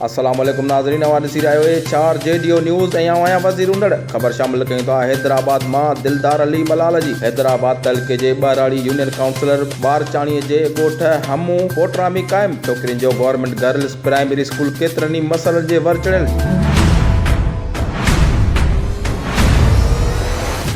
السلام عليڪم ناظرين اوهان ڏسي رهيا آهيو اي چار جي ڊيو نيوز ۽ آئون آهيان وزير اونڏڙ خبر شامل ڪيون ٿا حيدرآباد مان دلدار علي ملال جي حيدرآباد تعلقي جي ٻهراڙي يونين ڪائونسلر ٻارچاڻي جي ڳوٺ همو ڪوٽرا ۾ قائم ڇوڪرين جو گورنمينٽ گرلس پرائمري اسڪول ڪيترن ئي مسئلن جي ور چڙهيل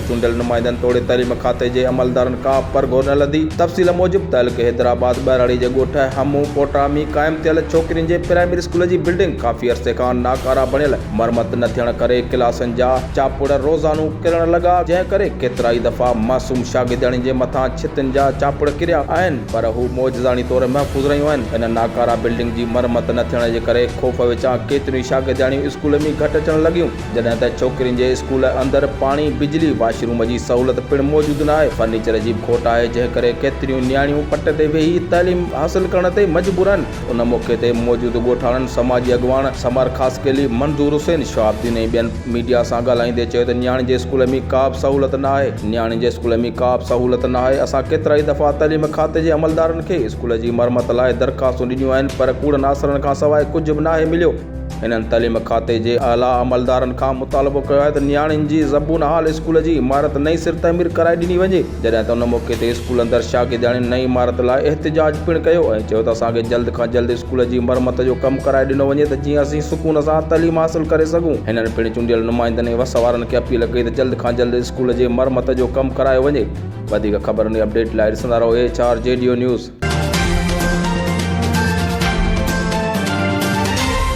چونڊيل نمائندن توڙي تعليم کاتي جي عملدارن ڪا به پر گهور نه لڌي. تفصيل موجب تعلقي حيدرآباد ٻهراڙي جي ڳوٺ همون ڪوٽا ۾ قائم ٿيل ڇوڪرين جي پرائمري اسڪول جي بلڊنگ ڪافي عرصي کان ناڪارا بڻيل مرمت نه ٿيڻ ڪري ڪلاسن جا چاپڙ روزانو ڪرڻ لڳا جنهن ڪري ڪيترائي دفعا معصوم شاگردياڻين جي مٿان ڇتن جا چاپڙ ڪريا آهن. پر هو معجزاڻي طور محفوظ رهيون آهن. هن ناڪاره بلڊنگ جي مرمت نه ٿيڻ جي ڪري خوف وچان ڪيتريون ئي شاگردياڻيون اسڪول ۾ گهٽ اچڻ لڳيون، جڏهن ته ڇوڪرين جي اسڪول اندر پاڻي، بجلي، واش روم جي سهولت پڻ موجود نه آهي، فرنيچر جي به کوٽ آهي، جنهن ڪري ڪيتريون نياڻيون پٽ تي ويهي تعليم حاصل ڪرڻ تي مجبور آهن. ان موقعي تي موجود ڳوٺاڻن، سماجي اڳواڻ سمر خاصخيلي، منظور حسين، شهاب الدين ۽ ٻين ميڊيا سان ڳالهائيندي چيو ته نياڻين جي اسڪول ۾ ڪا به سهولت نه آهي، نياڻين جي اسڪول ۾ ڪا به سهولت نه آهي، اسان ڪيترائي دفعا تعليم کاتي جي عملدارن کي اسڪول جي مرمت لاء درخواستون ڏنيون آهن پر ڪوڙن آسرن کان سواء ڪجهه به ناهي مليو، هنن تعليم کاتي جي اعليٰ عملدارن کان مطالبو ڪيو آهي ته نياڻين جي زبون حال اسڪول جي عمارت نئين سر تعمير ڪرائي ڏني وڃي. جڏهن ته ان موقعي تي اسڪول اندر شاگردياڻين نئين عمارت لاء احتجاج پڻ ڪيو ۽ چيو ته اسان کي جلد کان جلد اسڪول جي مرمت جو ڪم ڪرائي ڏنو وڃي ته جيئن اسين سڪون سان تعليم حاصل ڪري سگهون هنن پڻ چونڊيل نمائندن ۽ وس وارن کي اپيل ڪئي ته جلد کان جلد اسڪول جي مرمت جو ڪم ڪرايو وڃي وڌيڪ خبرن ۽ اپڊيٽ لاء ڏسندا رهو اي ايڇ آر جي ڊيو نيوز.